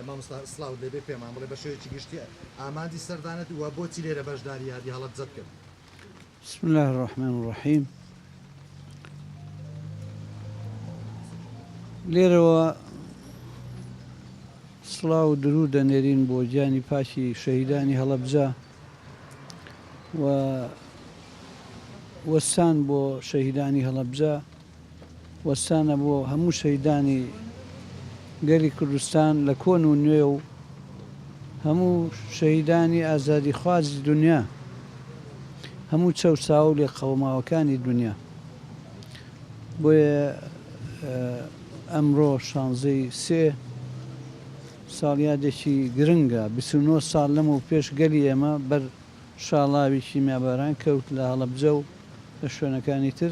مامۆستا سڵاوت لێبێ پێمان بڵێ بە شێوەیەکی گشتی ئامانجی سەردانت وە بۆچی لێرە بەشداری یادی هەڵەبجەت کرد بسم الله الرحمن الرحیم لێرەوە سڵاو و درود دەنێرین بۆ گیانی پاکی شەهیدانی هەڵەبجە و وەستان بۆ شەهیدانی هەڵەبجە وەستانە بۆ هەموو شەهیدانی گەلی کوردستان لە کۆن و نوێ و هەموو شەهیدانی ئازادیخوازی دونیا هەموو چەوساوە و لێقەوماوەکانی دونیا بۆیە ئەمڕۆ شانزەی سێ ساڵیادێکی گرنگە بیست و نۆ ساڵ لەمەو پێش گەلی ئێمە بەر شاڵاوی کیمیاباران کەوت لە هەڵەبجە و لە شوێنەکانی تر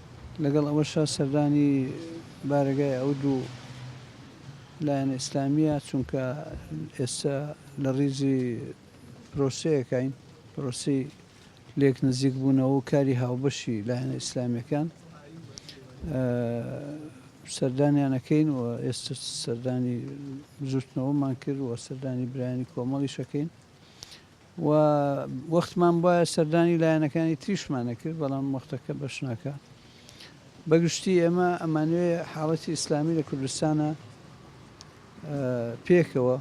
لەگەڵ ئەوەشا سەردانی بارەگای ئەو دوو لایەنە ئیسلامییە، چونکە ئێستا لە ڕیزی پرۆسەیەکاین، پرۆسەی لێک نزیکبوونەوە و کاری هاوبەشی لایەنە ئیسلامییەکان سەردانیان ئەکەین و ئێستا سەردانی بزووتنەوەمان کرد و سەردانی برایانی کۆمەڵیش ئەکەین. و وەختمان بوایە سەردانی لایەنەکانی تریشمان ئەکرد بەڵام وەختەکە بەش ناکات بە گشتی ئێمە ئەمانوێ حاڵەتی ئیسلامی لە کوردستانە پێکەوە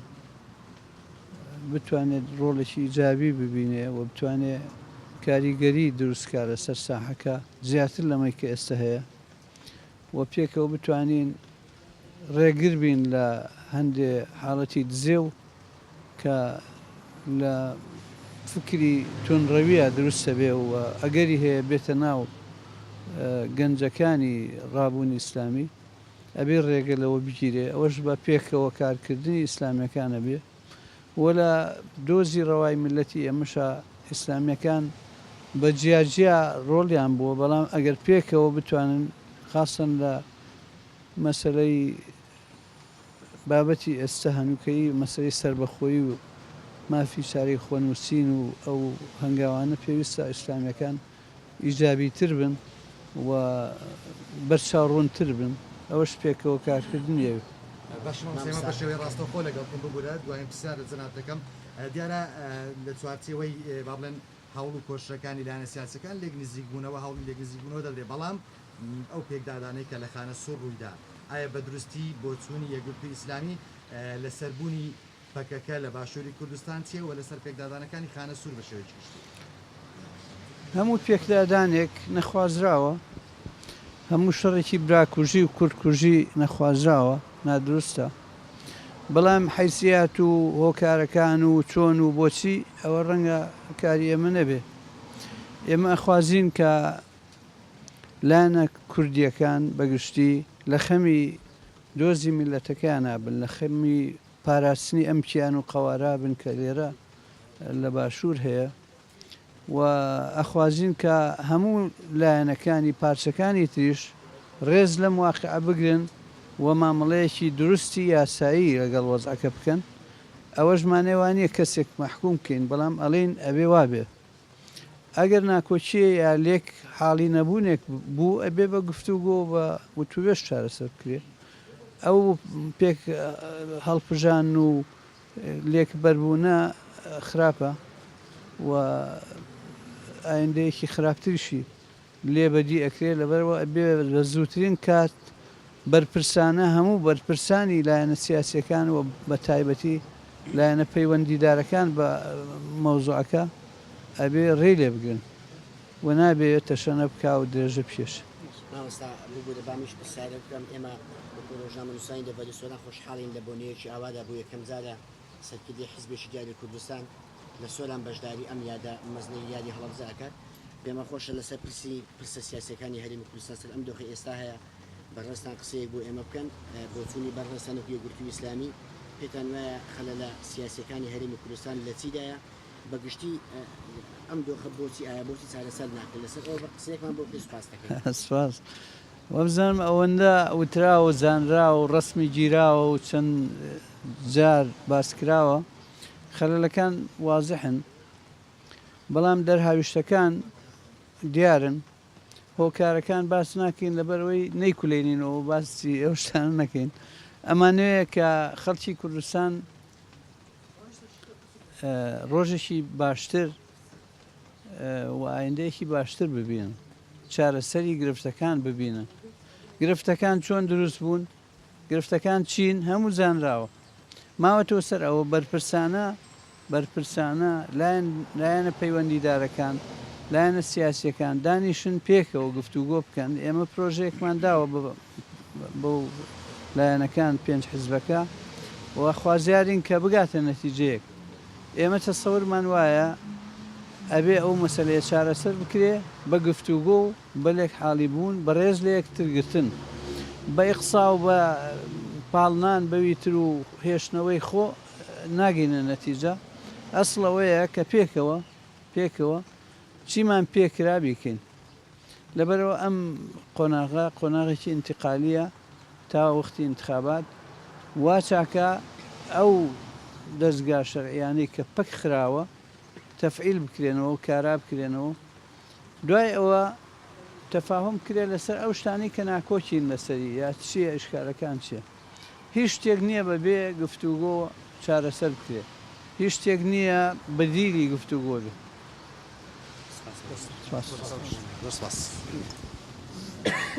بتوانێت ڕۆڵێکی ئیجابی ببینێ و بتوانێت کاریگەری دروستکە لەسەر ساحەکە زیاتر لەمەی کە ئێستا هەیە و پێکەوە بتوانین ڕێگر بین لە هەندێ حاڵەتی دزێو کە لە فکری توندڕەویە دروست دەبێ و ئەگەری هەیە بێتە ناو گەنجەکانی ڕابوونی ئیسلامی، ئەبێ ڕێگە لەوە بگیرێ، ئەوەش بە پێکەوە کارکردنی ئیسلامیەکان ئەبێ. وەلا دۆزی ڕەوای میلەتی ئێمەشا ئیسلامیەکان بە جیا جیا ڕۆڵیان بووە بەڵام ئەگەر پێکەوە بتوانن خاستەن لە مەسەلەی بابەتی ئێستا هەنووکەیی مەسەلەی سەربەخۆیی و مافی چارەی خۆنووسین و ئەو هەنگاوانە پێویستە ئیسلامیەکان ئیجابیتر بن و بەرچاو ڕوونتر بن ئەوەش پێکەوە کارکردنی ئەوێ. باشە مامۆستا ئێمە بەشێوەی ڕاستەوخۆ لەگەڵ خۆم ببورە دوایین پرسیارت جەنابت دەکەم دیارە لە چوارچێوەی با بڵێن هەوڵ و کۆششەکانی لایەنە سیاسیەکان لێک نزیک بوونەوە هەوڵی لێک نزیک بوونەوە دەدرێ بەڵام ئەو پێکدادانەی کە لە خانە سوور ڕوویدا ئایا بە دروستی بۆچوونی یەکگرتووی ئیسلامی لەسەر بوونی پەکەکە لە باشووری کوردستان چییە و لەسەر پێکدادانەکانی خانە سوور بە شێوەیەکی گشتی؟ هەموو پێکدادانێک نەخوازراوە، هەموو شەڕێکی براکوژی و کوردکوژی نەخوازراوە، نادروستە، بەڵام حەیسیات و هۆکارەکان و چۆن و بۆچی ئەوە ڕەنگە کاری ئێمە نەبێ. ئێمە ئەخوازین کە لایەنە کوردییەکان بە گشتی لە خەمی دۆزی میللەتەکەیانا بن، لە خەمی پاراستنی ئەم کیان و قەوارە بن کە لێرە لە باشوور هەیە و ئەخوازین کە هەموو لایەنەکانی پارچەکانی تریش ڕێز لەم واقعە بگرن و مامەڵەیەکی دروستی یاسایی لەگەڵ وەزعەکە بکەن ئەوەش مانای وا نییە کەسێک مەحکووم کەین بەڵام ئەڵێین ئەبێ وا بێ. ئەگەر ناکۆکییە یا لێک حاڵی نەبوونێک بوو ئەبێ بە گفتوگۆ بە وتوێش چارەسەر بکرێت ئەو پێک هەڵپژان و لێک بەربوونە خراپە و ئایندەیەکی خراپتریشی لێ بەدی ئەکرێت لەبەرئەوە ئەبێ بە زووترین کات بەرپرسانە هەموو بەرپرسانی لایەنە سیاسیەکان و بە تایبەتی لایەنە پەیوەندیدارەکان بە مەوزوعەکە ئەبێ ڕێی لێ بگرن و نابێ تەشەنە بکا و درێژە بکێش. مامۆستا ببورە بامش پرسیارێک بکەم ئێمە وەکو ڕۆژنامەنووسانی لە ڤەنیسۆلا خۆشحاڵین لە بۆنەیەکی ئاوادا بۆ یەکەم جارە سەرکردەی حیزبێکی دیاری کوردستان لە سۆران بەشداری ئەم یادە مەزنەی یادی هەڵەبجە ئەکات. پێمان خۆشە لەسەر پرسی پرسە سیاسیەکانی هەرێمی کوردستان سەر ئەم دۆخەی ئێستا هەیە بەڕێزتان قسەیەک بۆ ئێمە بکەن. بۆچوونی بەڕێزتان وەکو یەکگرتووی ئیسلامی پێتان وایە خەلەلە سیاسیەکانی هەرێمی کوردستان لە چیدایە بە گشتی ئەم دۆخە بۆچی ئایە بۆچی چارەسەر ناکرێت لەسەر ئەوە قسەیەکمان بۆ بکەی سوپاس دەکەین. سپاس. وابزانم ئەوەندە وتراوە زانراوەو ڕەسمی گیراوە و چەند جار باسکراوە خەلەلەکان وازحن بەڵام دەرهاویشتەکان دیارن هۆکارەکان باس ناکەین لەبەرئەوەی نەیکولێنین و باسی ئەو شتانە نەکەین ئەمانوێ کە خەلکی کوردستان ڕۆژێکی باشتر و ئایندەیەکی باشتر ببینن، چارەسەری گرفتەکان ببینن، گرفتەکان چۆن دروست بوون، گرفتەکان چین، هەموو زانراوە. ماوەتەوە سەر ئەوە بەرپرسانە بەرپرسانە لایەن لایەنە پەیوەندیدارەکان، لایەنە سیاسیەکان دانیشن پێکەوە گفتوگۆ بکەن، ئێمە پرۆژەیەکمان داوە بەو لایەنەکان پێنج حزبەکە و خوازیارین کە بگاتە نەتیجەیەک. ئێمە تەسەورمان وایە ئەبێ ئەو مەسەلەیە چارەسەر بکرێ بە گفتوگۆ و بە لێکحاڵی بوون، بە ڕێز لە یەکتر گرتن، بە ئیقصا و بە پاڵنان بەوی تر و هێشتنەوەی خۆ ناگەینە نەتیجە، ئەسڵ ئەوەیە کە پێکەوە پێکەوە چیمان پێ کرا بیکەین. لەبەرئەوە ئەم قۆناغە قۆناغێکی ئینتیقالییە تا وەختی ئینتخابات، وا چاکە ئەو دەزگا شەرعییانەی کە پەک خراوە تەفعیل بکرێنەوە و کارا بکرێنەوە و دوای ئەوە تەفاهوم بکرێ لەسەر ئەو شتانەی کە ناکۆکین لەسەری یا چییە ئیشکالەکان چییە. هیچ شتێک نییە بە بێ گفتوگۆ چارەسەر بکرێت، هیچ شتێک نییە بەدیلی گفتوگۆ بێت. سپاس.